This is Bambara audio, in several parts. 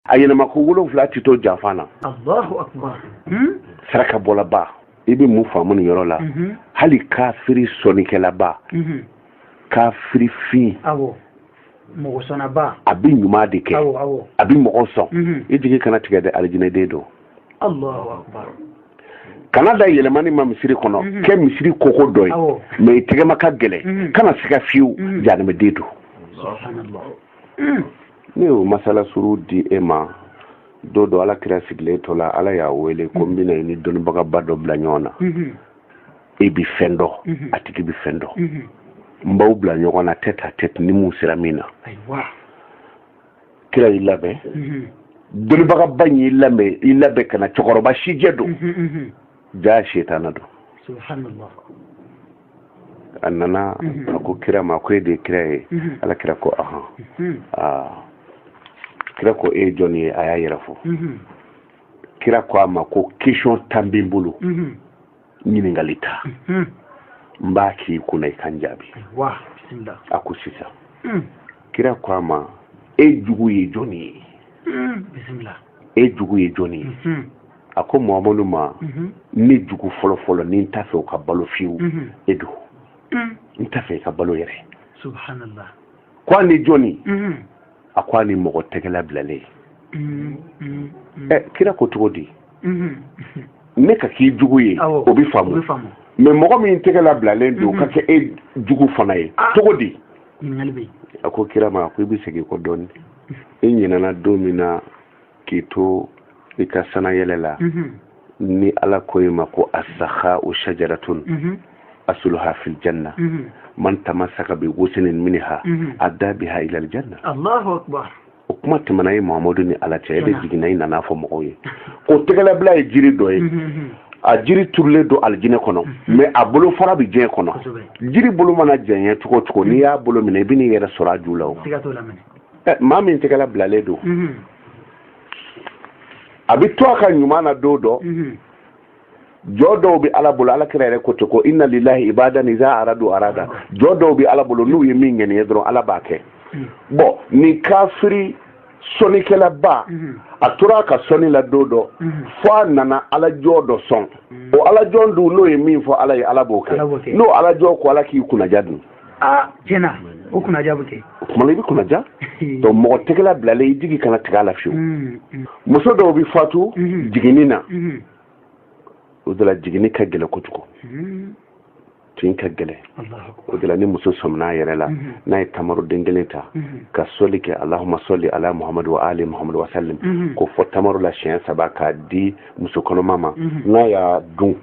a yɛlɛma ko wolonfila t'i to janfa na allahu akbar saraka bɔlaba i bɛ mun faamu nin yɔrɔ la mhm. hali kafiri sɔnikɛlaba mhm. kafiri fin mɔgɔ sɔnnaba a bɛ ɲuman de kɛ a bɛ mɔgɔ sɔn mhm. i jigi kana tigɛ dɛ alijinɛden don kana da yɛlɛmani ma misiri kɔnɔ kɛ misiri koko dɔ ye mɛ i tɛgɛma ka gɛlɛn kana siga fiyewu janimɛden don ne y'o masala surun di e ma don dɔ ala kira sigilen to la ala y'a wele ko n bɛna i ni dɔnnibagaba dɔ bila ɲɔgɔn na e bi fɛn dɔ a tigi bi fɛn dɔ n b'aw bila ɲɔgɔn na tête à tête ni mun sera min na ayiwa kira y'i labɛn dɔnnibagaba in y'i labɛn i labɛn ka na cɛkɔrɔba sijɛ don jaa setana don a nana a ko kira ma ko e de ye kira ye ala kira ko ahan kira ko e ye jɔn ye a y'a yɛrɛ fɔ kira ko a ma ko question tan bɛ n bolo ɲininkali tan n b'a k'i kunna i ka n jaabi a ko sisan hmm. kira ko a ma e jugu ye jɔn ye bisimilahi e jugu ye jɔn ye hmm. a ko mahamadu ma ne jugu fɔlɔ fɔlɔ ni n t'a fɛ o ka balo fiyewu e don n t'a fɛ i ka balo yɛrɛ subhanallah ko a ni jɔni a ko a ni mɔgɔ tɛgɛla bilalen kira ko cogo di ne ka k'i jugu ye o bɛ faamu mɛ mɔgɔ min tɛgɛla bilalen don ka kɛ e jugu fana ye cogo di a ko kira ma a ko i bɛ segin kɔ dɔɔnin e ɲinɛna don min na k'i to i ka sanayɛlɛ la mhm. ni ala ko i ma ko asakhau sajaratun mhm. asuluha fil janna mhm. man tamasaka bi wosinin minha ada biha ilal janna allahu akbar o kuma tɛmɛna e mahamadu ni ala cɛ e de jiginna i nana fɔ mɔgɔw ye ko tɛgɛlabila ye jiri dɔ ye a jiri turulen don alijinɛ kɔnɔ mhm. mɛ a bolofara bɛ diɲɛ kɔnɔ jiri bolo mana jɛɲɛ cogo cogo n'i y'a bolo minɛ i bɛ n'i yɛrɛ sɔrɔ a ju la o maa min tɛgɛla bilalen don a bɛ to a ka ɲuman na don o don jɔn dɔw bɛ ala bolo ala kira yɛrɛ ko ten ko inna lilahi ibadan iza aradu arada jɔn dɔw bɛ ala bolo n'u ye min ŋaniya dɔrɔn ala b'a kɛ bɔn nin kafiri sɔnikɛlaba a tora a ka sɔni la don o don fo a nana ala jɔn dɔ sɔn o ala jɔn dun n'o ye min fɔ ala ye ala b'o kɛ n'o ala jɔn ko ala k'i kunnaja dun aa tiɲɛ na o kunnaja bɛ kɛ o kuma na i bɛ kunnaja donc mɔgɔ tɛgɛla bilalen i jigi kana tigɛ a la fiyewu mm, mm. muso dɔw bɛ fatu mm-hmm. jiginni na mm-hmm. o de la jiginni ka gɛlɛ kojugu mm-hmm. tin ka gɛlɛ o de la ni muso sɔminna a yɛrɛ la mhm. n'a ye tamaru den kelen ta mhm. ka sɔli kɛ alahuma sɔli ala muhamadu wa ali muhamadu wa salim mhm. k'o fɔ tamaru la siɲɛ saba k'a di muso kɔnɔma ma n'a y'a dun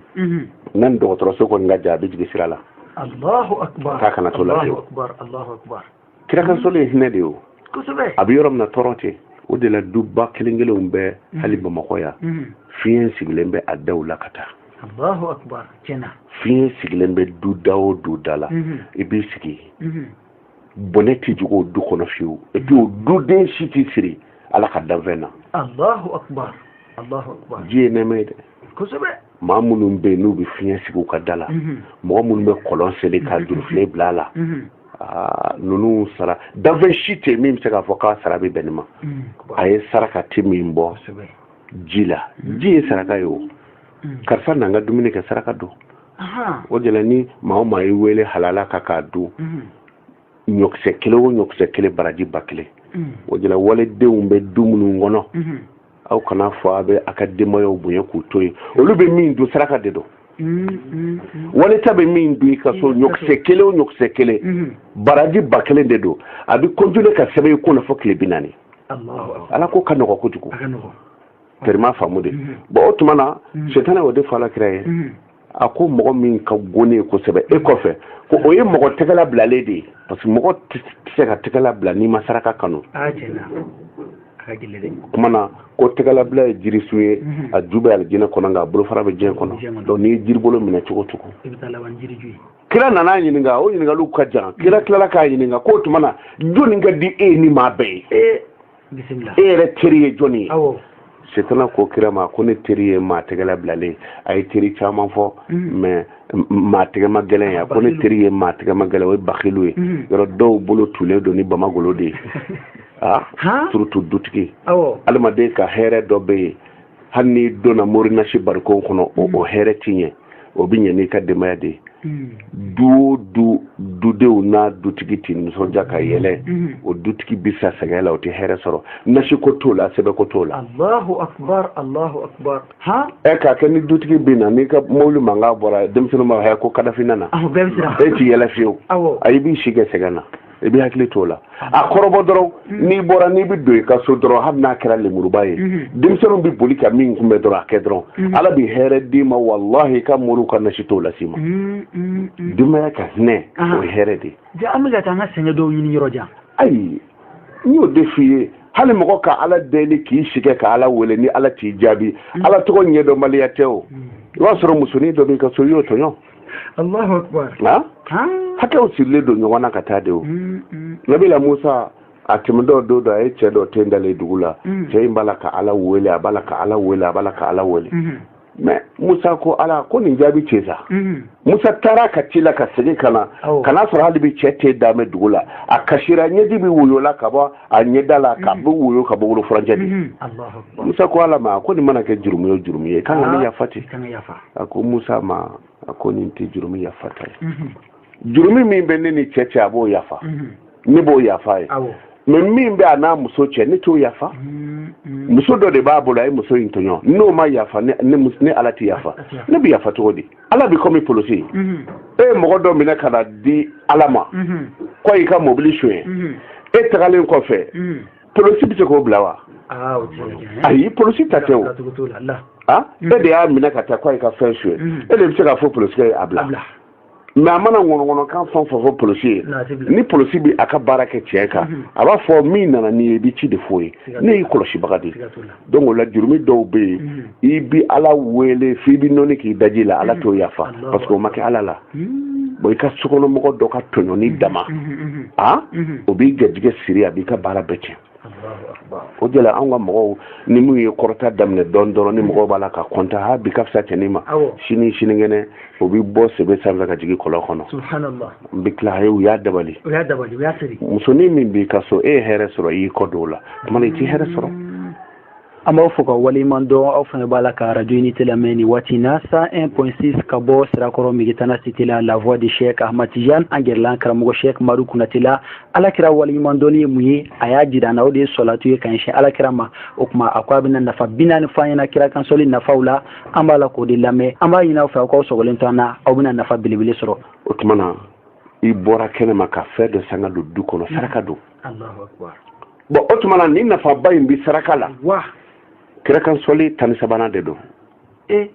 n'a ni dɔgɔtɔrɔso kɔni ka jan a bɛ jigin sira la Allahu akbar k'a kana to a la fiyewu Allahu akbar Allahu akbar kira kan sɔli ye hinɛ de ye o kosɛbɛ a bɛ yɔrɔ min na tɔɔrɔ tɛ o de la duba kelen kelenw bɛ mhm. hali bamakɔ yan mhm. fiɲɛ sigilen bɛ a daw la ka taa Allahu akbar tiɲɛ na fiɲɛ sigilen bɛ du da o du da la mhm. i b'i sigi bɔnɛ tɛ jigin o du kɔnɔ fiyewu et puis o duden si t'i siri ala ka danfɛn na Allahu akbar Allahu akbar ji ye nɛɛma ye dɛ maa minnu bɛ yen n'u bɛ fiɲɛ sigi u ka da la mhm. mɔgɔ minnu bɛ kɔlɔn seli ka mhm. jurufilen bila a la mhm. ah, ninnu sara danfɛn si tɛ min bɛ se k'a fɔ k'a sara bɛ bɛn nin ma ayi saraka tɛ min bɔ ji la ji ye saraka ye o karisa n'an ka dumuni kɛ saraka don o de la ni maa o maa y'i wele halala kan k'a dun ɲɔkisɛ kelen o ɲɔkisɛ kelen baraji ba kelen mm. o de la walidenw bɛ du minnu kɔnɔ mm-hmm. aw kan'a fɔ a bɛ a ka denbayaw bonya k'u to yen olu bɛ min dun saraka de don mm-hmm. wali ta bɛ min dun i ka so ɲɔkisɛ kelen o ɲɔkisɛ kelen mm-hmm. baraji ba kelen de don a bɛ kɔntine ka sɛbɛn i kunna fo tile bi naani ala ko ka nɔgɔ kojugu tɛri m'a faamu de bon o tuma na setana o de fɔ ala kira ye a ko mɔgɔ min ka go ne ye kosɛbɛ e kɔfɛ ko o ye mɔgɔ tɛgɛla bilalen de ye parce que mɔgɔ tɛ se ka tɛgɛla bila n'i ma saraka kanu kuma na ko tɛgɛlabila ye jirisun ye mhm. a ju bɛ alijinɛ kɔnɔ nka a bolofara bɛ diɲɛ kɔnɔ donc n'i ye jiribolo minɛ cogo cogo kira nan'a ɲininka o ɲininkaliw ka jan kira tilala k'a ɲininka k'o tuma na jɔni ka di e ni maa bɛɛ ye e yɛrɛ teri ye jɔni ye setana ko kira ma ko ne teri ye maa tɛgɛla bilalen a ye teri caman fɔ mm. mais maa tɛgɛma gɛlɛn ye a ko ne teri ye maa tɛgɛma gɛlɛn o ye bakilu ye mm. yɔrɔ dɔw bolo tulen don ni bamagolo de ye a ah, surtout dutigi adamaden ka hɛrɛ dɔ bɛ yen hali n'i donna morinasi barikon kɔnɔ o mm. hɛrɛ tɛ ɲɛ o bɛ ɲɛ n'i ka denbaya de ye mm. du o du dudenw n'a dutigi tɛ nisɔndiya ka yɛlɛ mm. o dutigi bɛ sa sɛgɛn la o tɛ hɛrɛ sɔrɔ nasi ko t'o la sɛbɛn ko t'o la. alahu akubar alahu akubar. han. e k'a kɛ ni dutigi bɛ na n'i ka mobili mankan bɔra denmisɛnninw b'a fɔ ko kadafi nana. awɔ bɛɛ bɛ siran. e t'i yɛlɛ fiyewu. awɔ. ayi i b'i si kɛ sɛgɛn na. i bɛ hakili t'o la a kɔrɔbɔ dɔrɔn mm-hmm. n'i bɔra n'i bɛ don i ka so dɔrɔn hali n'a kɛra lemuruba ye mm-hmm. denmisɛnninw bɛ boli ka min kunbɛn dɔrɔn a kɛ dɔrɔn mm-hmm. ala bɛ hɛrɛ d'i ma walahi i ka moriw ka nasi t'o las'i ma denbaya ka hinɛ ah. o ye hɛrɛ de ye an bɛ ka taa an ka sɛgɛn dɔw ɲini yɔrɔ jan ayi n y'o de f'i ye hali mɔgɔ ka ala deli k'i si kɛ ka ala wele ni ala t'i jaabi ala tɔgɔ ɲɛdɔnbaliya tɛ o i b'a sɔrɔ musonin dɔ b'i ka so i y'o tɔɲɔ Allahu akbar na hakɛw sirilen don ɲɔgɔn na ka taa de o mm, mm. nabila musa a tɛmɛtɔ don dɔ a ye cɛ dɔ ten dalen dugu la mm. cɛ in b'a la ka ala wele a b'a la ka ala wele a b'a la ka ala wele mm-hmm. mɛ musa ko ala ko nin jaabi cɛ sa mm-hmm. musa taara a ka ci la ka segin ka na ka n'a sɔrɔ hali bi cɛ ten dalen bɛ dugu la a kasira ɲɛji bɛ woyo la ka bɔ a ɲɛda la ka mm-hmm. bɛ woyo ka bɔ bolo furancɛ de musa ko ala ma ko nin mana kɛ jurumu ye jurumu ye kan ka ne ah, yafa ten a ko musa ma a ko nin tɛ jurumi yafata ye jurumi min bɛ ne ni cɛ cɛ a b'o yafa ne b'o yafa ye mɛ min bɛ a n'a muso cɛ ne t'o yafa muso dɔ de b'a bolo a ye muso in tɔɲɔ n'o ma yafa ne ala tɛ yafa ne bɛ yafa cogo di ala bɛ kɔmi polisi e ye mɔgɔ dɔ minɛ ka n'a di ala ma k'o y'i ka mɔbili soɲɛ e tagalen kɔfɛ polosi bɛ se k'o bila wa ah, ayi polosi ta tɛ o ah, e de y'a minɛ ka taa ko a y'i ka fɛn soɲɛ mm. e de bɛ se k'a fɔ polosi ye a bila mɛ a mana ŋɔnɔŋɔnɔkan fɛn fɛn fɔ polosi ye ni polosi bɛ a ka baara kɛ tiɲɛ kan mm-hmm. a b'a fɔ min nana n'i ye i bɛ ci de f'o ye ne y'i kɔlɔsibaga de ye donc o la jurumi dɔw bɛ yen mm. i bi ala wele f'i bi nɔni k'i daji la ala mm. t'o yafa mm. parce que o ma kɛ ala la bɔn i ka sokɔnɔmɔgɔ dɔ ka tɔɲɔni dama a o b'i garijɛgɛ siri a b'i ka baara bɛɛ tiɲɛ o de la anw ka mɔgɔw ni min ye kɔrɔta daminɛ dɔɔni dɔrɔn ni mɔgɔw b'a la ka kɔntan ha bi ka fisa cɛnin ma sini sinikɛnɛ o bɛ bɔ sebe sanfɛ ka jigin kɔlɔn kɔnɔ n bɛ tila u y'a dabali musonin min b'i ka so e ye hɛrɛ sɔrɔ i y'i kɔ don o la tuma i tɛ hɛrɛ sɔrɔ mm. an b'aw fo k'aw waleɲuman dɔn aw fana b'a la ka arajo unité lamɛn nin waati na cent un point six ka bɔ sirakɔrɔ megitana cité la la voix de chek ahmad tijan an gɛrɛla an karamɔgɔ chek madu kunate la ala kira waleɲuman dɔnni ye mun ye a y'a jira an na o de ye sɔlatu ye ka ɲɛsin ala kira ma o tuma a ko a bɛna nafa bi naani fɔ an ɲɛna kira kan sɔli nafaw la an b'a la k'o de lamɛn an b'a ɲini aw fɛ aw k'aw sɔgɔlen to an na aw bɛna nafa belebele sɔrɔ o tuma na i bɔra kɛnɛ ma ka fɛn dɔ san ka don du kɔnɔ saraka don bɔn o tuma na ni nafaba in bɛ saraka la kira kan sɔli tan ni sabanan de don e?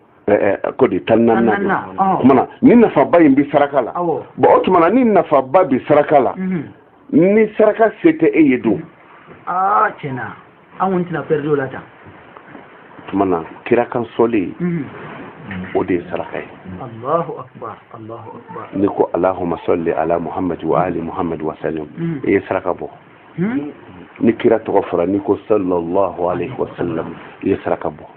ko di tan ni naaninan don o tuma na ni nafaba in bɛ saraka la bɔn o tuma na ni nafaba bɛ saraka la mhm. ni saraka se tɛ e ye don ah, an kɔni tɛna pɛridi o la tan tuma na kira kan sɔli mhm. o de ye saraka ye Allahu akbar n'i ko alahuma sali ala muhamadu wa ali muhamadu wa salim mhm. i ye saraka bɔ hmm? ni kira tɔgɔ fɔra n'i ko sallallahu alaihi wa sallam i ye saraka bɔ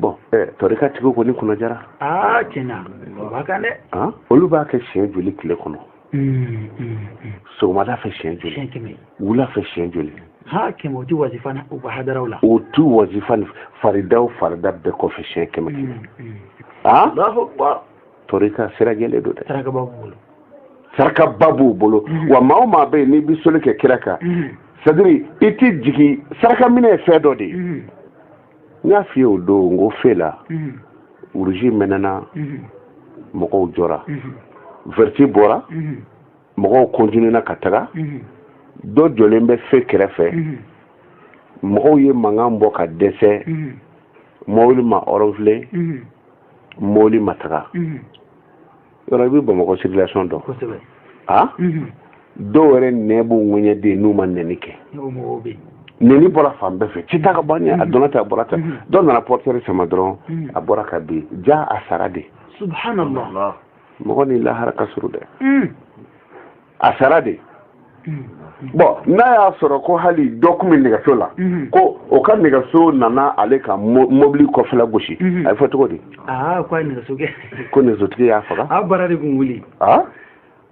bɔn tɔrika tigiw kɔni kunna jara aa tiɲɛna o b'a kan dɛ olu b'a kɛ siɲɛ joli tile kɔnɔ hmm, hmm, hmm. sɔgɔmada fɛ siɲɛ joli wula fɛ siɲɛ joli ha kɛmɛ o ti wazifa u ka hadaraw la o ti wazifa faridaw farida bɛɛ kɔfɛ siɲɛ kɛmɛ kɛmɛ a tɔrika sira jɛlen don dɛ saraka b'a bolo saraka ba b'u bolo wa maa o maa bɛ yen n'i bɛ sɔli kɛ kira kan c'est-à-dire i tɛ jigin saraka minɛ ye fɛn dɔ de ye n y'a f'i ye o don n ko fe la uruzi mɛnɛna mɔgɔw jɔra vɛriti bɔra mɔgɔw kɔntinena ka taga dɔ jɔlen bɛ fe kɛrɛfɛ mɔgɔw ye mankan bɔ ka dɛsɛ mɔbili ma ɔrɔnfile mɔbili ma taga yɔrɔ i bɛ bamakɔ circulation dɔn a dɔw yɛrɛ nɛn b'u ŋɛɲɛ dɛ n'u ma nɛni kɛ nɛni bɔra fan bɛɛ fɛ ci ta ka bɔ ɲɛ a donna ta a bɔra ta dɔ nana portière sama dɔrɔn a bɔra ka bin jaa a sara dɛ subhanallah mɔgɔ ni lahara ka surun dɛ a sara dɛ bɔn n'a y'a sɔrɔ ko hali dɔ kun bɛ nɛgɛso la ko o ka nɛgɛso nana ale ka mɔbili kɔfɛla gosi a bɛ fɔ cogo di ko nɛgɛsotigi y'a faga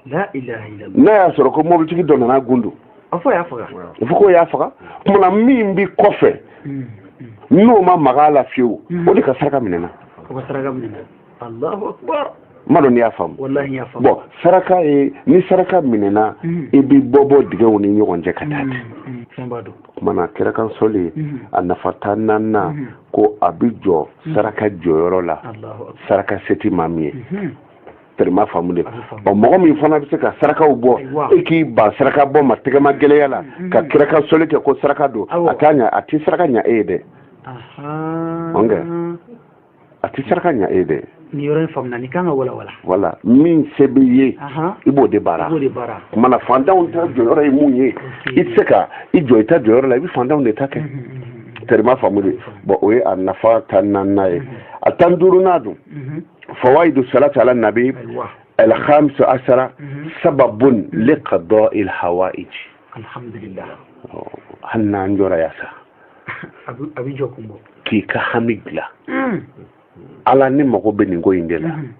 n'a y'a sɔrɔ ko mɔbilitigi dɔ nana gundu a fɔ k'o y'a faga kuma na min bɛ kɔfɛ n'o ma maga a la fiyewu o de ka saraka minɛna Allahu akbar n m'a dɔn n'i y'a faamu wallahi n y'a faamu bɔn saraka ye ni saraka minɛna mm. i bɛ bɔ bɔ dingɛw ni ɲɔgɔn cɛ ka taa mm, mm, fɛn b'a dɔn kuma na kira kan sɔli a nafa tan naaninan ko a bɛ jɔ saraka jɔyɔrɔ la saraka se tɛ maa min ye mm-hmm. tɛri i m'a faamu de ɔ mɔgɔ min fana bɛ se ka sarakaw bɔ e k'i ban saraka bɔ ma tɛgɛmagɛlɛya la mm-hmm. ka kira kan sɔli kɛ ko saraka don a t'a ɲa a tɛ saraka ɲa e ye dɛ ɔnkɛ a tɛ saraka ɲa e ye dɛ nin yɔrɔ in faamuna nin kan ka walawala voilà min se b'i ye i b'o de baara kuma na fantanw ta jɔyɔrɔ ye mun ye i tɛ se ka i jɔ i ta jɔyɔrɔ la i bɛ fantanw de ta kɛ tɛri i m'a faamu de bɔn o ye a nafa tan naaninan ye a tan duurunan dun fawaidu salati ala nabi alhamisa asara sababun liqadɔ il hawaiji alhamdulillah oh, hali n'an jɔrɔya sa a bɛ jɔ kun bɔ k'i ka hami dilan hmm. ala ne mago bɛ nin ko in de la hmm.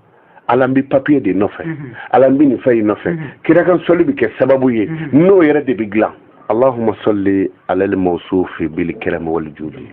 ala n bɛ papiye de nɔfɛ hmm. ala n bɛ nin fɛn in nɔfɛ kira kan sɔli bɛ kɛ sababu ye n'o yɛrɛ de bɛ dilan allahumma salli ala al-mawsufi bil karam wal judi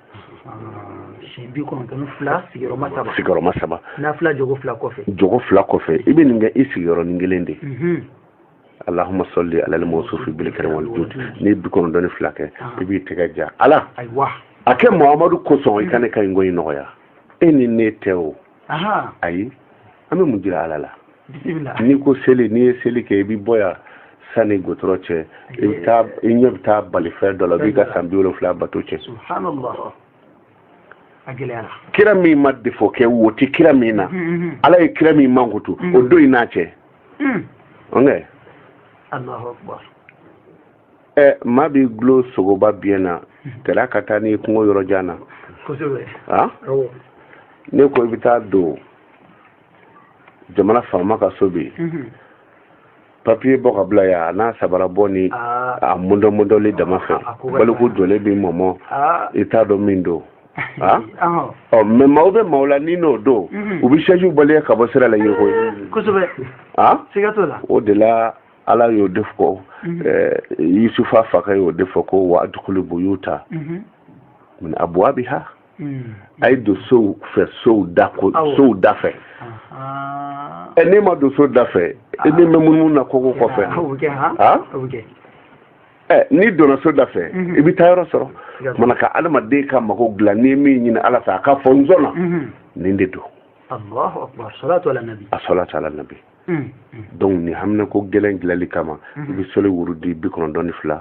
siyɛn bi kɔnɔntɔn fila sigiyɔrɔma saba sigiyɔrɔma saba nafila jɔko fila kɔfɛ jɔko fila kɔfɛ i bɛ nin kɛ i sigiyɔrɔnin kelen de mhm. allahumma salli ala al-mawsufi bil karam wal judi n'i ye bi kɔnɔntɔn ni fila kɛ ah. i b'i tɛgɛ ja ala ayiwa a kɛ mamadu kosɔn i ka ne ka nin ko in nɔgɔya e ni ne tɛ o ayi an bɛ mun jira ala la n'i ko seli n'i ye seli kɛ i bɛ bɔ yan sani gudɔrɔn cɛ i bɛ taa i ɲɛ bɛ taa balifɛn dɔ la b'i ka san bi wolonfila bato cɛn subhanallah kira min ma defo kɛ wo tɛ kira min na mm-hmm, mm-hmm. ala ye kira min mankutu o mm-hmm. don in n'a cɛ ɛ maa b'i dulon sogoba biɲɛ na tila ka taa n'i kungo yɔrɔ jan na a ne ko i bɛ taa don jamana faama ka so bi mhm. papiye bɔ ka bila yan a n'a sabara bɔ ni ah. a mundɔmundɔli dama fɛ ah, baliku jɔlen b'i mɔmɔ ah. i t'a dɔn min don Ah? ɔ mɛ maaw bɛ maaw la ni n'o don mhm. u bɛ sɛjiw baliya ka bɔ sira la yiriko ye kosɛbɛ o de la ala y'o de fɔ mhm. eh, yusufa fakɛ y'o de fɔ ko wa adkhulu buyuta mhm. min abwabiha mhm. a ye don sow fɛ sow da ko sow da fɛ ɛ n'e ma don so da fɛ e na mɛn munumunu na koko kɔfɛ han ɛ n'i donna so da fɛ i bɛ taayɔrɔ sɔrɔ mana ka adamaden ka mago dilan n'i ye min ɲini ala fɛ a k'a fɔ n sɔnna nin de don as-salatu ala nabi Hmm, hmm. donc ni haminanko gɛlɛn dilali kama hmm. i bɛ sɔli wurudi bi kɔnɔntɔn ni fila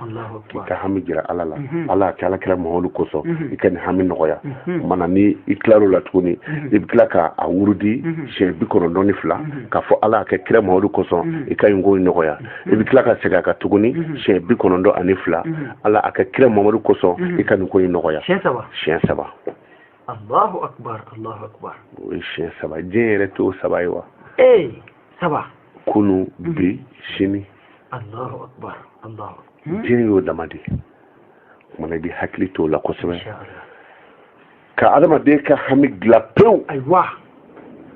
k'i ka hami jira ala la ala a kɛ ala kira mamadu kosɔn i ka nin hami nɔgɔya mana ni i tilar'o la tuguni i bɛ tila ka a wurudi siɲɛ bi kɔnɔntɔn ni fila k'a fɔ ala a kɛ kira mamadu kosɔn i ka nin ko in nɔgɔya i bɛ tila ka segin a kan tuguni siɲɛ bi kɔnɔntɔn ani fila ala a kɛ kira mamadu kosɔn i ka nin ko in nɔgɔya siɲɛ saba Allahu akbar Allahu akbar o ye siɲɛ saba diɲɛ yɛrɛ t'o saba ye wa ee saba kunu mhm. bi sini Allahu akbar Allahu hmm? diɲɛ y'o dama de ye ko mana i bɛ hakili t'o la kosɛbɛ ka adamaden ka hami dilan pewu ayiwa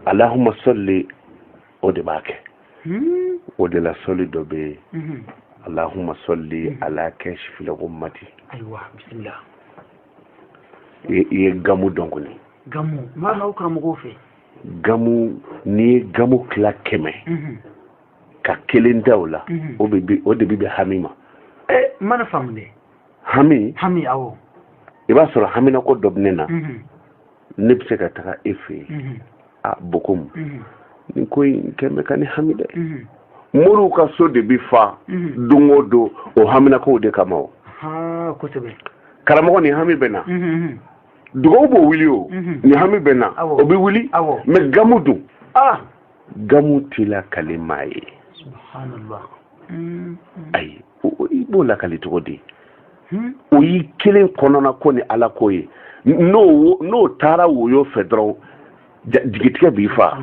allahumma salli o de b'a kɛ hmm? o de la sɔli dɔ bɛ yen mhm. allahumma salli mhm. ala kashifil ghummati ayiwa bisimila i ye gamu dɔn kɔni gamu m'a n'aw karamɔgɔw fɛ gamu n'i ye gamu tila kɛmɛ mhm. ka kelen ta o la mhm. o de bɛ bɛn hami ma eh, mana faamu dɛ hami hami awɔ i b'a sɔrɔ haminako dɔ bɛ ne na mhm. ne bɛ se ka taga e fɛ yen a bɔn komi nin ko in kɛlen bɛ ka ne hami dɛ moriw ka so de bɛ fa don o don o haminakow de kama o karamɔgɔ nin hami bɛ n na dugawu b'o wuli o nin hami bɛ n na o bɛ wuli mɛ gamu dun gamu tɛ lakali maa ye ayi i b'o lakali cogo di Hmm? o y'i kelen kɔnɔna ko ni ala ko ye n'o n'o taara woyo fɛ dɔrɔn jigitigɛ b'i fa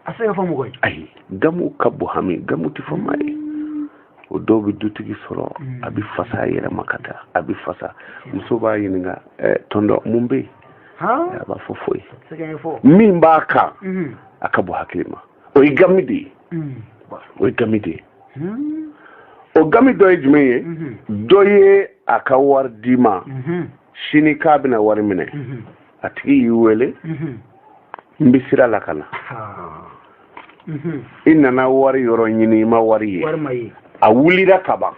a se ka fɔ mɔgɔ ye ayi gamu ka bon hami gamu tɛ fɔ maa ye o dɔw bɛ dutigi sɔrɔ hmm. a bɛ fasa a yɛrɛ ma ka taa a bɛ fasa muso b'a ɲininka eh, tonton mun bɛ yen a b'a fɔ foyi min b'a kan hmm. a ka bon hakili ma o ye gami de ye o ye gami de ye o gami dɔ ye jumɛn ye dɔ ye a ka wari d'i ma sini k'a bɛna wari minɛ a tigi y'i wele n bɛ sira la ka na i nana wari yɔrɔ ɲini i ma wari ye a wulira ka ban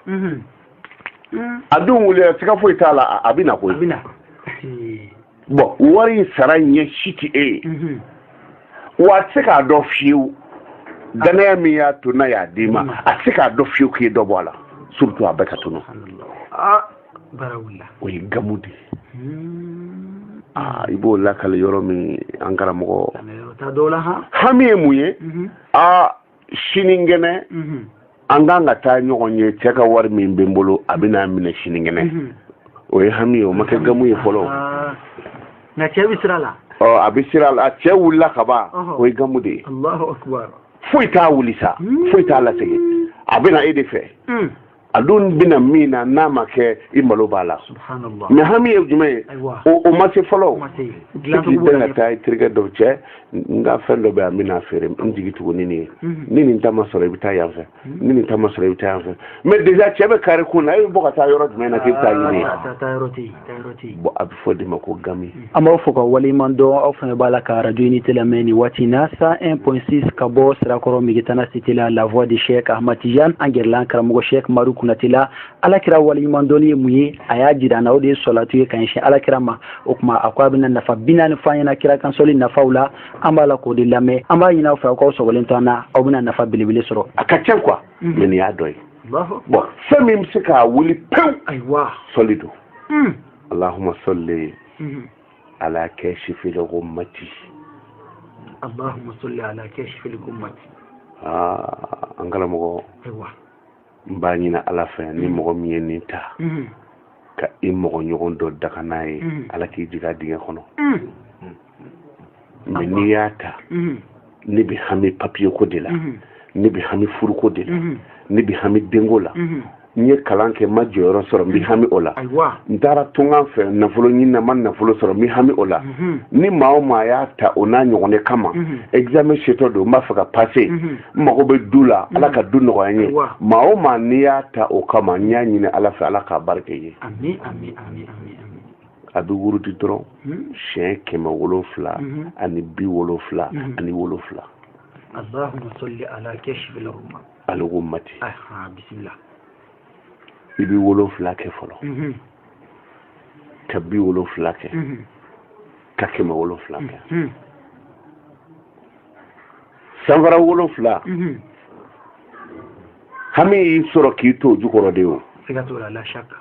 a dun wulila siga foyi t'a la a bɛ na koyi bɔn wari in sara ɲɛ si tɛ e ye mhm. wa a tɛ se k'a dɔn fiyewu dannaya min y'a to n'a y'a d'i ma mhm. a tɛ se k'a dɔn fiyewu k'i ye dɔ bɔ a la surtout a bɛɛ ka tunu ah, o ye gamu de ye hmm. ah, i b'o lakali yɔrɔ min an karamɔgɔ hami ye mun ye aa mhm. ah, sinikɛnɛ an kan ka taa ɲɔgɔn ye cɛ ka wari min bɛ n bolo a bɛ n'a minɛ sinikɛnɛ o ye hami ye o ma kɛ gamu ye fɔlɔ ah. nka cɛ bɛ sira la ɔ a bɛ sira la cɛ wulila ka ban o ye gamu de ye foyi t'a wuli sa hmm. foyi t'a lasegin a bɛ na e de fɛ hmm. a dun bɛna min na n'a ma kɛ i malo b'a la mɛ hami ye jumɛn ye o ma se fɔlɔ k'i bɛn ka taa i terikɛ dɔ cɛ n ka fɛn dɔ bɛ yan n bɛn'a feere n jigi tugu ni nin ye mhm. ni nin ta ma sɔrɔ i bɛ taa yan fɛ mhm. ni nin ta ma sɔrɔ i bɛ taa yan fɛ mɛ déjà cɛ bɛ kare kun na e bɛ bɔ ka taa yɔrɔ jumɛn na k'i bɛ taa ɲini ye bɔn a bɛ fɔ de ma ko gami an b'aw fo k'aw waleɲuman dɔn aw fana b'a la ka arajo unité lamɛn nin waati na cent un point six ka bɔ sirakɔrɔ migetana cité la la voix de Cheikh Ahmad Tijan an gɛrɛla an karamɔgɔ Cheikh madu kunate la alakira waleɲuman dɔnni ye mun ye a y'a jira an na o de ye sɔlatu ye ka ɲɛsin alakira ma o tuma a ko a bɛna nafa bi naani fɔ an ɲɛna kira kan sɔli nafaw la an b'a la k'o de lamɛn an b'a ɲini aw fɛ aw k'aw sɔgɔlen to an na aw bɛna nafa belebele sɔrɔ a ka ca quoi mm. nin y'a dɔ ye bon fɛn min bɛ se k'a wuli pewu ayiwa sɔli don mm. allahumma salli mm-hmm. ala kashifil ghummati allahumma salli ala kashifil ghummati aa an karamɔgɔ ayiwa n b'a ɲini ala fɛ ni mm. mɔgɔ min ye nin ta mm-hmm. ka i mɔgɔ ɲɔgɔn dɔ danga n'a ye mm. ala k'i jigin a dingɛ kɔnɔ mɛ n'i y'a ta mhm. ne bɛ hami papiye ko de la mhm. ne bɛ hami furuko de la mhm. ne bɛ hami denko la n ye kalan kɛ n ma jɔyɔrɔ sɔrɔ n bɛ hami o la n taara tunkan fɛ nafolo ɲini na n ma nafolo sɔrɔ n bɛ hami o la ni maa o maa y'a ta o n'a ɲɔgɔn de kama examen setɔ don n b'a fɛ ka pase n mago bɛ du la ala ka du nɔgɔya n ye maa o maa n'i y'a ta o kama n y'a ɲini ala fɛ ala k'a barika i ye. a bɛ wurudi dɔrɔn hmm. siɲɛ kɛmɛ wolonfila hmm. ani bi wolonfila hmm. ani wolonfila allahumma salli ala kashifil ghummati aha bisimila i bɛ wolonfila kɛ fɔlɔ ka bi wolonfila kɛ ka kɛmɛ wolonfila kɛ sanfara wolonfila hami y'i sɔrɔ k'i to o jukɔrɔ de o siga t'o la la shakka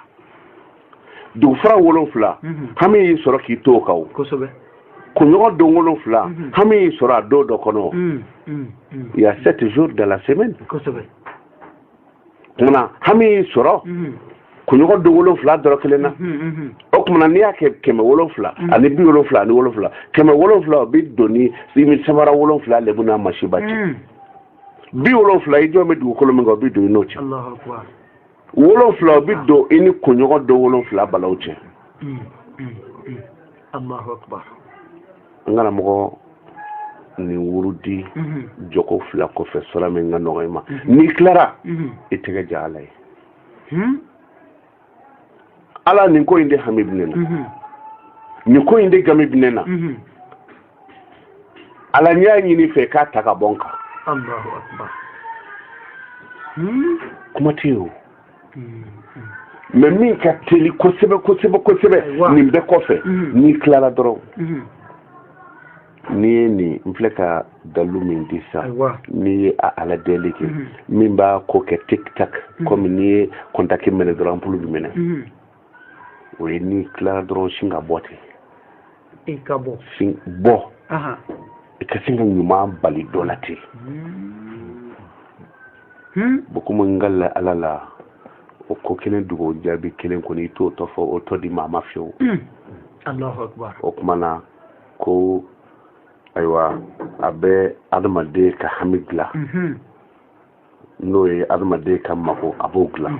dugufara wolonfila hami y'i sɔrɔ k'i to o kan kunɲɔgɔn don wolonfila hami y'i sɔrɔ a don dɔ kɔnɔ y a sept jours de la semaine kumana hami y'i sɔrɔ kunɲɔgɔn don wolonfila dɔrɔn kelen na o kuma na n'i y'a kɛ kɛmɛ wolonfila ani bi wolonfila ani wolonfila kɛmɛ wolonfila o bi don i ni sanfara wolonfila lebu n'a masiba cɛ bi wolonfila i jɔlen bɛ dugukolo min kan o bi don i n'o cɛ wolonfila o bi don i ni kunɲɔgɔn don wolonfila balaw cɛ mm, mm, mm. an karamɔgɔ nin wurudi mm-hmm. jɔko fila kɔfɛ sura min ka nɔgɔ i ma mm-hmm. n'i tilara mm-hmm. i tɛgɛ ja ala ye hmm? ala nin ko in de hami bɛ ne na nin ko in de gami bɛ ne na ala n y'a ɲini i fɛ k'a ta ka bɔ n kan hmm? kuma tɛ yen o hmm, hmm. mɛ min ka teli kosɛbɛ kosɛbɛ kosɛbɛ nin bɛɛ kɔfɛ n'i tilara dɔrɔn n'i ye nin n filɛ ka dalu min di sa n'i ye a ala deli kɛ min b'a ko kɛ tik tak kɔmi n'i ye kɔntaki mɛnɛ dɔrɔn anpulu bi mɛnɛ o ye n'i tilara dɔrɔn sin ka bɔ ten i ka bɔ sin bɔ i ka sin ka ɲuman bali dɔ la ten hmm. hmm? bon komi n ka la ala la o ko kelen dugawu jaabi kelen kɔni i t'o tɔ fɔ o tɔ di maa ma fiyewu hmm. o kuma na ko ayiwa a bɛ adamaden ka hami dilan n'o ye adamaden ka mago a b'o dilan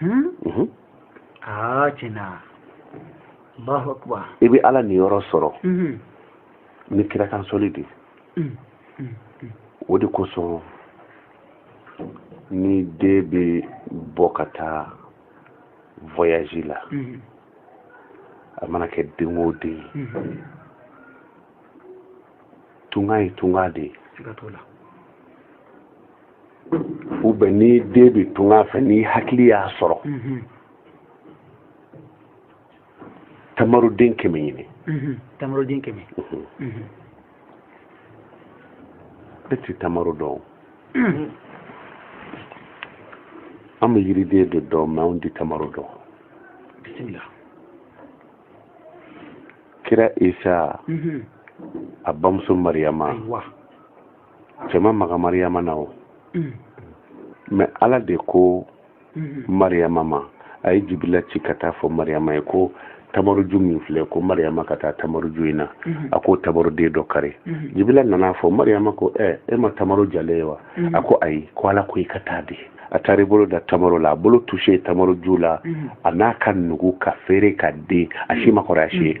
Hmm? Mhm. Ah, i bɛ ala niyɔrɔ sɔrɔ mhm. ni kira kan sɔli de mm, mm, mm. o de kosɔn ni den bɛ bɔ ka taa voyage la mhm. a mana kɛ den o den ye tunga ye tunga de ye ou bien ni den bɛ tunga fɛ n'i hakili y'a sɔrɔ mhm. tamaruden kɛmɛ ɲini mhm. tamaruden kɛmɛ mhm. e ti tamaro dɔn an bɛ yiriden de dɔn mɛ anw ti tamaro dɔn bisimila kira isa a bamuso mariyama cɛ ma maga mariyama na o mm. mɛ ala de ko mm-hmm. mariyama ma a ye jibila ci ka taa fɔ mariyama ye ko tamaruju min filɛ ko mariyama ka taa tamaruju in na mm-hmm. a k'o tamaruden dɔ kari mm-hmm. jibila nan'a fɔ mariyama ko ɛ e ma tamaru jalen ye wa a ko ayi ko ala ko i ka taa dɛ a taara i bolo da tamaro la a bolo touché tamaro ju la a n'a ka nugu ka feere ka den a si ma kɔrɔ a si ye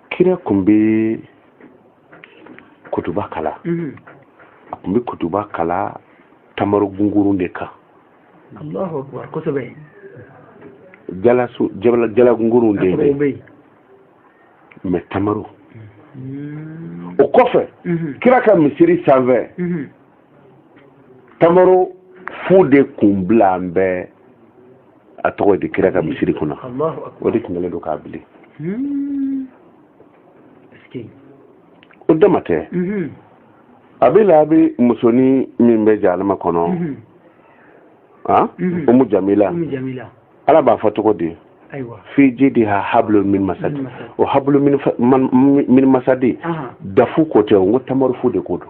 kira kun bɛ kutuba kalan mhm. a kun bɛ kutuba kalan tamaro gungurun de kan jala gungurun de bɛ mɛ tamaro mhm. o kɔfɛ mhm. kira ka misiri sanfɛ tamaro fu de kun bila an bɛ a tɔgɔ di kira ka misiri kunna o de tun kɛlen don k'a bili hmm. o dama tɛ mhm. abi lahabi musonin min bɛ jahanama kɔnɔ mhm. ah? mhm. umu jamila ala b'a fɔ cogo di fi jidiha hablun min masad o hablun min masadi dafu ko tɛ o n ko tamaru fu de ko don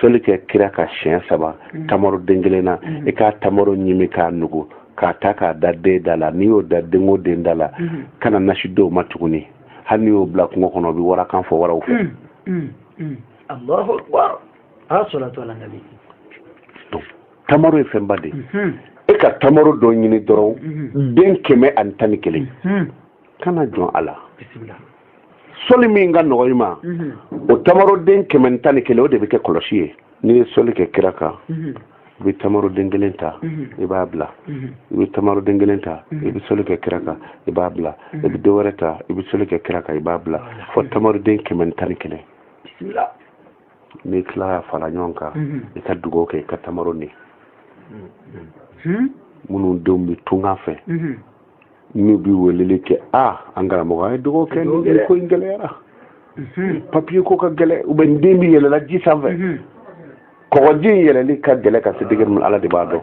soli kɛ kira kan siɲɛ saba mm. tamaro den kelen na mm. i ka tamaro ɲimi k'a nugu k'a ta k'a da den da la n'i y'o da den o den da la mm. kana nasi d'o ma tuguni hali n'i y'o bila kungo kɔnɔ o bɛ warakan fɔ waraw fɛ tamaro ye fɛnba de mm-hmm. e ka tamaro dɔ ɲini dɔrɔn mm-hmm. den kɛmɛ ani tan ni kelen mm-hmm. kana jɔn a la soli min ka nɔgɔ i ma o tamaroden kɛmɛ tan ni kelen o de bɛ kɛ kɔlɔsi ye n'i ye soli kɛ kira kan i bɛ tamaroden kelen ta i b'a bila i bɛ tamaroden kelen ta i bɛ soli kɛ kira kan i b'a bila i bɛ dɔ wɛrɛ ta i bɛ soli kɛ kira kan i b'a bila fo tamaroden kɛmɛ tan ni kelen n'i tila k'a fara ɲɔgɔn kan i ka dugawu kɛ i ka tamaro ni minnu denw bɛ tunga fɛ n'u bɛ weleli kɛ aa an karamɔgɔ a ye dugawu kɛ nin ko in gɛlɛyara mhm. papiye ko ka gɛlɛn u bɛ n den bɛ yɛlɛ la ji sanfɛ mhm. kɔgɔji in yɛlɛli ka gɛlɛn ka se degere min ala de b'a dɔn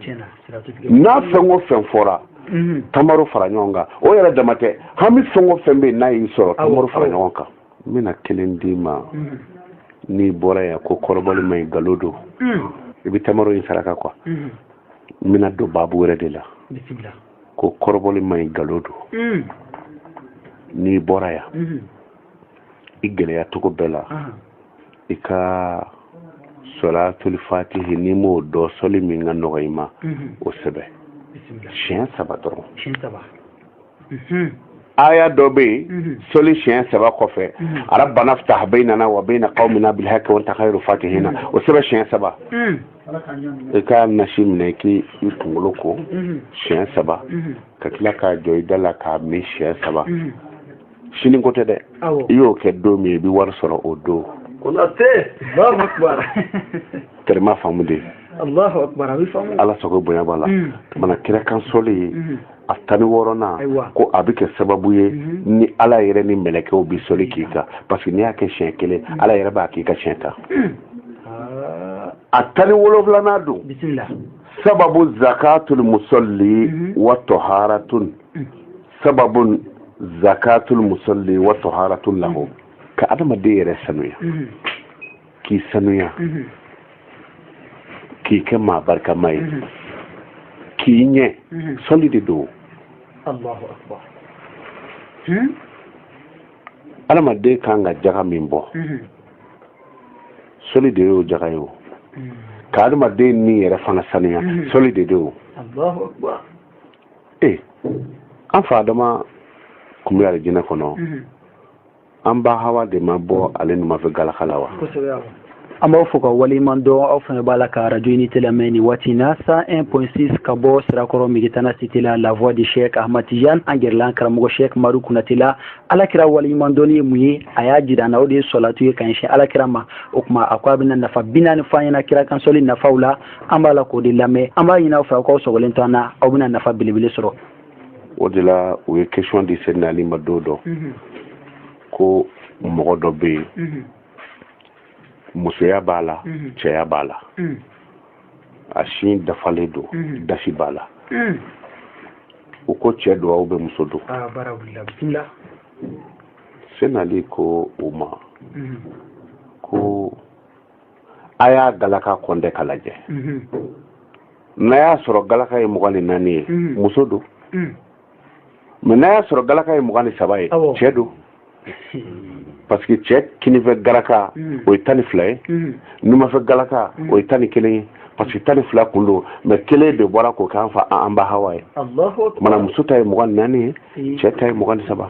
n'a fɛn o fɛn fɔra mhm. tamaro fara ɲɔgɔn kan o yɛrɛ dama tɛ hami fɛn o fɛn bɛ yen n'a y'i sɔrɔ tamaro fara ɲɔgɔn kan n bɛna kelen d'i ma n'i bɔra yan ko kɔrɔbɔli man ɲi galo don i bɛ tamaro in saraka quoi n bɛna don baabu wɛrɛ de la ko kɔrɔbɔli man ɲi galo don mm. n'i bɔra yan mm-hmm. i gɛlɛya cogo bɛɛ la i ka sɔlatuli fatihi n'i m'o dɔn sɔli min ka nɔgɔ i ma mm-hmm. o sɛbɛn siɲɛ saba dɔrɔn mm-hmm. aya dɔ bɛ yen sɔli siɲɛ saba kɔfɛ rabbana ftah baynana wa bayna qawmina bil haqqi wa anta khairu fatihina o sɛbɛn siɲɛ saba mm. i ka nasi minɛ k'i i kunkolo ko mhm. siɲɛ saba mhm. ka tila ka jɔ i da la k'a min siɲɛ saba mhm. sini ko tɛ dɛ i y'o kɛ don min i bɛ wari sɔrɔ o don tɛrɛma faamu de ala sago bonya b'a la mana kira kan sɔli ye a tan ni wɔɔrɔnan ko a bɛ kɛ sababu ye mhm. ni ala yɛrɛ ni mɛlɛkɛw bɛ soli k'i kan parce que n'i y'a kɛ siɲɛ kelen mhm. ala yɛrɛ b'a k'i kan siɲɛ tan ah. a tan ni wolonwulanan don sababu zakatul musalli mhm. wa taharatun sababu zakatul musalli wa taharatun lahu ka adamaden yɛrɛ sanuya k'i sanuya mhm. k'i kɛ maa barikama ye mhm. k'i ɲɛ mhm. sɔli de don adamaden hmm? kan ka jaga min bɔ sɔli de y'o jaga ye o hmm. ka adamaden ni yɛrɛ fana sanuya sɔli de don o ee an fa adama kun bɛ alijinɛ kɔnɔ an ba hawa de ma bɔ ale numafɛ galaka la wa an b'aw fo ka waleɲuman dɔn aw fana b'a la ka radio unité lamɛn nin waati in na 101.6 ka bɔ sirakɔrɔ megetana cité la la voix de chek ahmad tijan an gɛrɛla an karamɔgɔ chek maru kunate la alakira waleɲuman dɔnni ye mun ye a y'a jira an na o de ye sɔlatu ye ka ɲɛsin alakira ma o kuma a ko a bɛna nafa bi naani fɔ an ɲɛna kira kan sɔli nafaw la an b'a la k'o de lamɛn an b'a ɲini aw fɛ aw k'aw sɔgɔlen to an na aw bɛna nafa belebele sɔrɔ o de la u ye question di sena ali ma don dɔ mhm. ko mɔgɔ dɔ bɛ yen mhm. musoya b'a la mhm. cɛya b'a la a sin dafalen don dasi b'a la u ko cɛ don ou bien muso don ah, sena ali ko u ma ko a y'a galaka kɔnte ka lajɛ mhm. n'a y'a sɔrɔ galaka ye mugan ni naani ye mhm. muso don mhm. mais n'a y'a sɔrɔ galaka ye mugan ni saba ye cɛ don parce que cɛ kinifɛ galaka o ye tan ni fila ye numafɛ galaka o ye tan ni kelen ye parce que tan ni fila kun don mais kelen de bɔra k'o k'an fa an ba hawa ye mana muso ta ye mugan ni naani ye cɛ ta ye mugan ni saba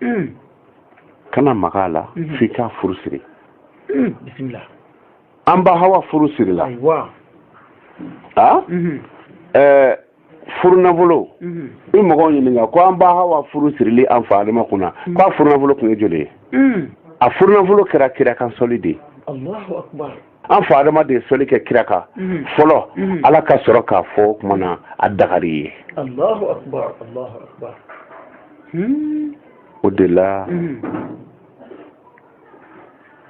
mm. kana maga a la mm-hmm. f'i k'a furu siri bisimila an ba hawa furu sirila a mm-hmm. eh, furu nafolo mm-hmm. i mɔgɔw ɲininka ko an ba hawa furu sirili an fa adama kunna mm. k'a furu nafolo kun ye joli ye a furu nafolo kɛra kira kan sɔli de ye an fa adama de ye sɔli kɛ kira kan mhm. fɔlɔ mhm. ala ka sɔrɔ k'a fɔ o kuma na a dagar'i ye alahu akbar o de la mhm.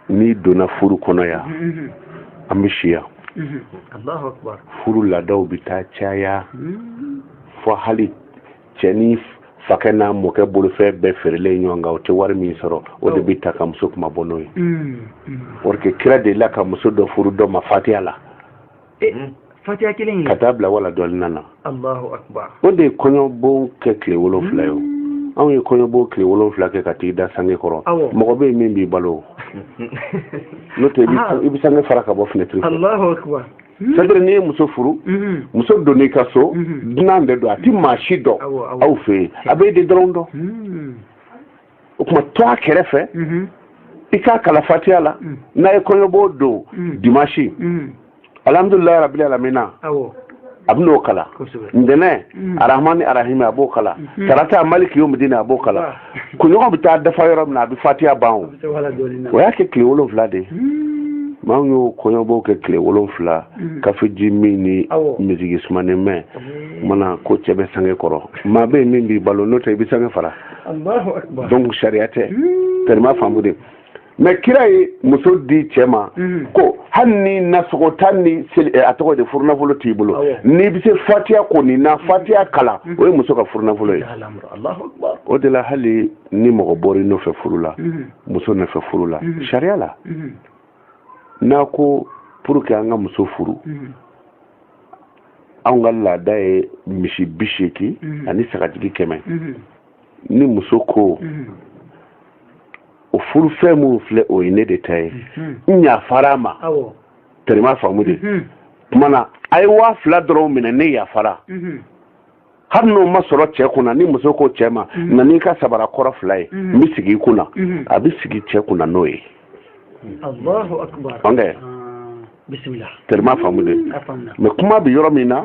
n'i donna furu kɔnɔ yan an bɛ si yan alahu akbar furu laadaw bɛ taa caya hmm. fo hali cɛ ni fakɛ n'a mɔkɛ bolofɛn bɛɛ feerelen ɲɔgɔn kan o tɛ wari min sɔrɔ o de bɛ ta ka muso kunmabɔ n'o ye mm, mm. parce que kira delila ka muso dɔ furu dɔ ma fatiya la eh, mm. fatiya kelen ka taa bila waladɔlina o de ye kɔɲɔbon kɛ tile wolonfila ye o anw ye kɔɲɔbon tile wolonfila kɛ ka t'i da sange kɔrɔ mɔgɔ bɛ yen min b'i balo n'o tɛ i bɛ sange fara ka bɔ finɛtiri Hmm. c'est-à-dire n'i ye muso furu hmm. muso donn'i ka so hmm. dunan de don a ti maa si dɔn aw fɛ yen a b'e de dɔrɔn dɔn o tuma to a kɛrɛfɛ i k'a kalan fatiya la n'a ye kɔɲɔbon don dimansi alhamdulilayi rabili alamina a bɛn'o kalan ntɛnɛn arahmani arahimi a b'o kalan tarata maliki yomidini a b'o kalan kunɲɔgɔn bɛ taa dafa yɔrɔ min na a bɛ fatiya ban o o y'a kɛ tile wolonwula de ye maa min y'o kɔɲɔbon kɛ tile wolonwula hmm. kafeji min ni misiki sumanen mɛn hmm. mana ko cɛ bɛ sange kɔrɔ maa bɛ yen min b'i balo n'o tɛ i bɛ sange fara donc sariya tɛ hmm. terima faamu de mais kira ye muso di cɛ ma mhm. ko hali ni nasɔngɔ tan ni eh, a tɔgɔ di furunafolo t'i bolo n'i bɛ se fatiya ko nin na mhm. fatiya kalan mhm. o ye muso ka furunafolo ye o de la hali ni mɔgɔ bɔra i nɔfɛ furu la muso nɔfɛ furu la sariya la n'a ko pour que an ka muso furu anw ka laada ye misi bi seegin ani sagajigi kɛmɛ ni muso ko o furufɛn min filɛ o ye ne de ta ye n yafara a ma terima faamu de kumana a ye waa fila dɔrɔn minɛ ne yafara hali n'o ma sɔrɔ cɛ kunna ni muso ko cɛ ma na n'i ka sabara kɔrɔ fila ye n bɛ sigi i kunna a bɛ sigi cɛ kunna n'o ye allahu akbar bismillah terima faamu de mais kuma bɛ yɔrɔ min na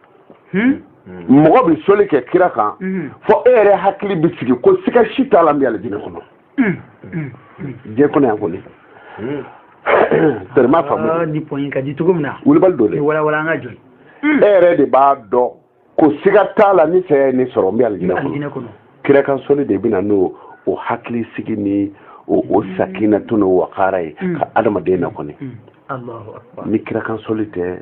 hmm? hmm. mɔgɔ bɛ soli kɛ kira kan hmm. fo e yɛrɛ hakili bɛ sigi ko siga si t'a la n bɛ alijinɛ kɔnɔ diɲɛ kɔnɔ yan kɔni terima faamu ah, ni pɔnyi ka di cogo min na wulibali don dɛ walawala an ka jɔ e yɛrɛ de b'a dɔn ko siga t'a la ni saya ye ne sɔrɔ n bɛ alijinɛ kɔnɔ kira kan soli de bɛ na n'o hakilisigi ni o sakinatu n'o wakara ye ka adamaden na kɔni ni kira kan soli tɛ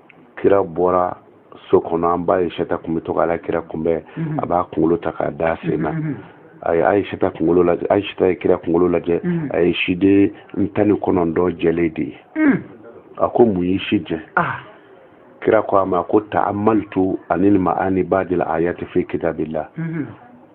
kira bɔra so kɔnɔ an ba ayisata kun bɛ to ka ala kira kunbɛn mhm. a b'a kunkolo ta k'a da sen na mhm. a ye ayisata kunkolo lajɛ ayisata ye kira kunkolo lajɛ mhm. a ye siden tan ni kɔnɔntɔn jɛlen de ye a ko mun y'i si jɛ ah. kira ko a ma ko ta'amaltu ani ma'ani ba'dil ayati fi kitabillah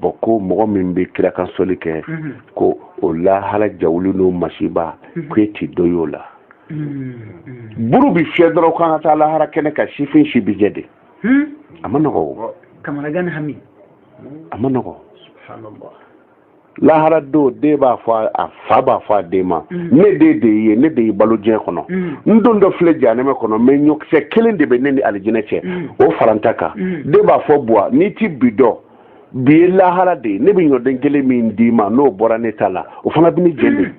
bon ko mɔgɔ min bɛ kira kan soli kɛ ko o lahara jawuli n'o masiba ko e tɛ dɔ y'o la buru bɛ fiyɛ dɔrɔn k'an ka taa lahara kɛnɛ kan sifin si bi jɛ dɛ a man nɔgɔ o a man nɔgɔ lahara don den b'a fɔ a fa b'a fɔ a den ma mm. ne den de ye ne de y'i balo diɲɛ kɔnɔ mm. n dontɔ filɛ janɛmɛ kɔnɔ mais ɲɔkisɛ kelen de bɛ ne ni alijinɛ cɛ mm. o fara n ta kan den b'a fɔ buwa n'i ti bi dɔn bi ye lahara de ye ne bɛ ɲɔden kelen min d'i ma n'o bɔra ne ta la o fana bɛ ne jɛ dɛ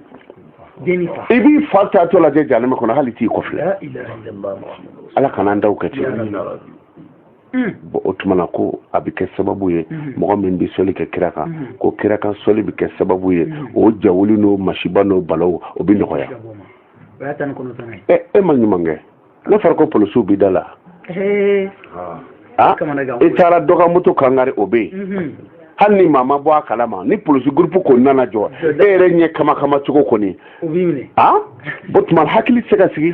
i b'i fa taatɔ lajɛ janɛmɛ kɔnɔ hali i t'i kɔ filɛ ala kana an taw kɛ ten bɔn o tuma na ko a bɛ kɛ sababu ye mɔgɔ min bɛ sɔli kɛ kira kan ko kira kan sɔli bɛ kɛ sababu ye o jawuli n'o masiba n'o balaw o bɛ nɔgɔya e ma ɲuman kɛ n'a fɔra ko polisiw b'i da la ah, i taara dɔgɔmutu kangari o bɛ yen hali ni maa ma bɔ a kala ma ni polisi gurupu ko nana jɔ e yɛrɛ ɲɛ kama kama cogo kɔni o tuma hakili se ka sigi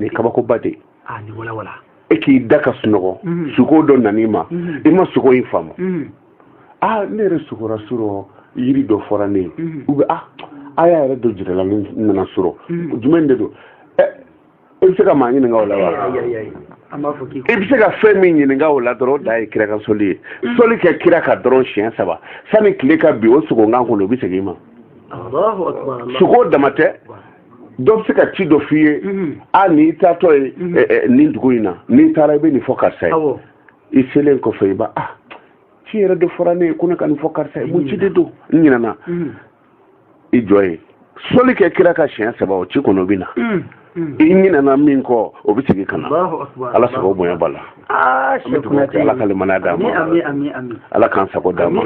nin kabakoba de ah, ni wala wala e k'i da ka sunɔgɔ mhm. suko dɔ nan'i ma mhm. i ma suko in faamu mhm. a ah, ne yɛrɛ sukora surɔ yiri dɔ fɔra ne ye u bɛ a ah, a y'a yɛrɛ dɔ jirala ne nana surɔ jumɛn de don ɛ eh, i bɛ se ka maa ɲininka o la wa i bɛ se ka fɛn min ɲininka o la dɔrɔn o da ye kira kan sɔli ye sɔli kɛ kira kan dɔrɔn siɲɛ saba sani tile ka bi o suko in kan kɔnɔ o bɛ segin i ma suko dama tɛ dɔ bɛ se ka ci dɔ f'i ye mhm. a n'i taatɔ ye mhm. eh, eh, nin dugu in na n'i taara i bɛ nin fɔ karisa ye i selen kɔfɛ i b'a ah ci yɛrɛ de fɔra ne ye ko ne ka nin fɔ karisa ye mun ci de don n ɲinɛna i jɔ yen sɔli kɛ kira kan siɲɛ saba o ci kɔnɔ bɛ na i ɲinɛna min kɔ o bɛ segin ka na ala sago bonya b'a la Ah, an bɛ dugawu kɛ ala ka limaniya d'an ma ala k'an sago d'an ma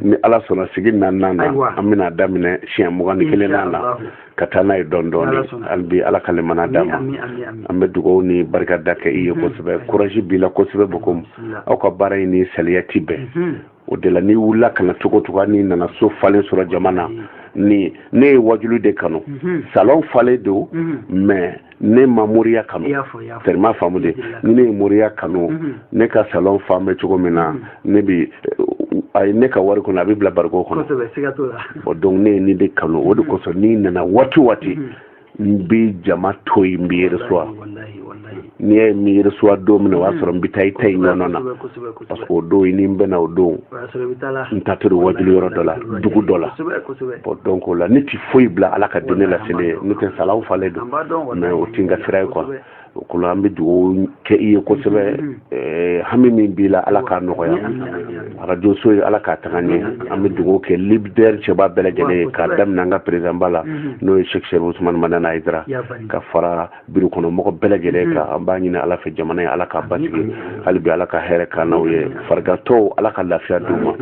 ni ala sɔnna sigi naaninan na an bɛna daminɛ siɲɛ mugan ni kelen na la ka taa n'a ye dɔɔni dɔɔni hali bi ala ka limaniya d'an ma an bɛ dugawu ni barika da kɛ i ye kosɛbɛ kurazi b'i la kosɛbɛ bokomu aw ka baara in ni saliya ti bɛn o de la n'i wulila ka na cogo cogo n'i nana so falen sɔrɔ jama na ni ne ye wajuli de kanu salon falen don mais ne ma moriya kanu tellement faamu de ni ne ye moriya kanu mhm. ne ka salon fan bɛ cogo min na mhm. ne bi a ye ne ka wari kɔnɔ a bɛ bila bariko kɔnɔ bɔn donc ne ye nin de kanu o de mhm. kosɔn n'i nana waati waati n bɛ jama to yen n b'i reçoit n'i y'a ye n m'i reçoit don min na o y'a sɔrɔ n bɛ taa i ta in ɲɔgɔn na parce que o don ni n bɛna o don n taatɔ ye wajuli yɔrɔ dɔ la dugu dɔ la bɔn donc o la ne ti foyi bila ala ka diinɛ laseli ɲɛ n'o tɛ salon falen don mais o ti n ka sira ye quoi o ko la an bɛ dugawu kɛ i ye kosɛbɛ eh, hami min b'i la ala k'a nɔgɔya arajo so in ala k'a taga ɲɛ an bɛ dugawu kɛ lidɛri cɛba bɛɛ lajɛlen ye k'a daminɛ an ka perezidanba la n'o ye sɛki serifu usumani madani ayidara ka fara biro kɔnɔ mɔgɔ bɛɛ lajɛlen mm-hmm. kan an b'a ɲini ala fɛ jamana in ala k'a basigi hali bi ala ka hɛrɛ k'an n'aw ye farigantɔw ala ka lafiya d'u ma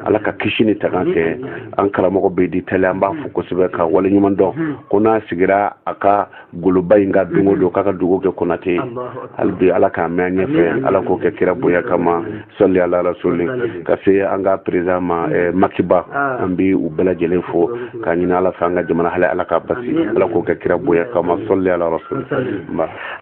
ala ka kisi ni tanga kɛ mm-hmm. an karamɔgɔ bɛdi tali an b'a fo kosɛbɛ ka wale ɲuman dɔn mm-hmm. ko n'a sigira a ka goloba in kan don o don k'a ka dugawu kɛ konate hali bi ala k'a mɛɛn an ɲɛfɛ ala k'o kɛ kira bonya kama sali ala rasuli ka se an ka peresidan ma mm. eh, makiba ah. an bɛ u bɛɛ lajɛlen fo k'a ɲini ala fɛ an ka jamana mali ala k'a basi ala k'o kɛ kira bonya kama sali ala rasuli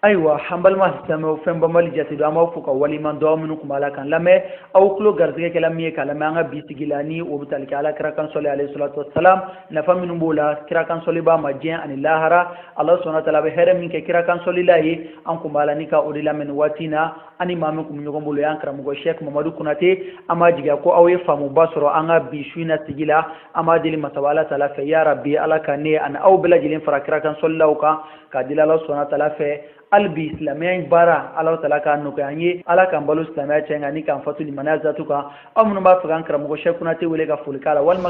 ayiwa an balima silamɛw fɛn banbali jate don an b'aw fo k'aw waleɲuman dɔn minnu tun b'a la k'an lamɛn aw tulo garisɛgɛ kɛla min ye k'a lamɛn an ka bi sigi la ni o bɛ tali kɛ ala kira kan sɔli alayhi salatu wasalam nafa minnu b'o la kira kan sɔli b'a ma diɲɛ ani lahara ala subhana taala bɛ hɛrɛ min kɛ kira kan sɔlila ye an tun b'a la ni ka o de lamɛn nin waati in na ani maa min tun bɛ ɲɔgɔn bolo y'an karamɔgɔ sheikh mamadu konate an b'a jigiya ko aw ye faamuba sɔrɔ an ka bi su in na sigi la an b'a deli masaba ala taala fɛ ya rabi ala ka ne ani aw bɛɛ lajɛlen fara kira kan sɔlilaw kan k'a deli ala subhana taala fɛ hali bi silamɛya in baara ala taala k'a nɔgɔya an ye ala k'an balo silamɛya cɛ nka ni k'an fatu limaniya zatu kan aw minnu b'a fɛ k'an karamɔgɔ sheikh konate wele ka foli k'a la walima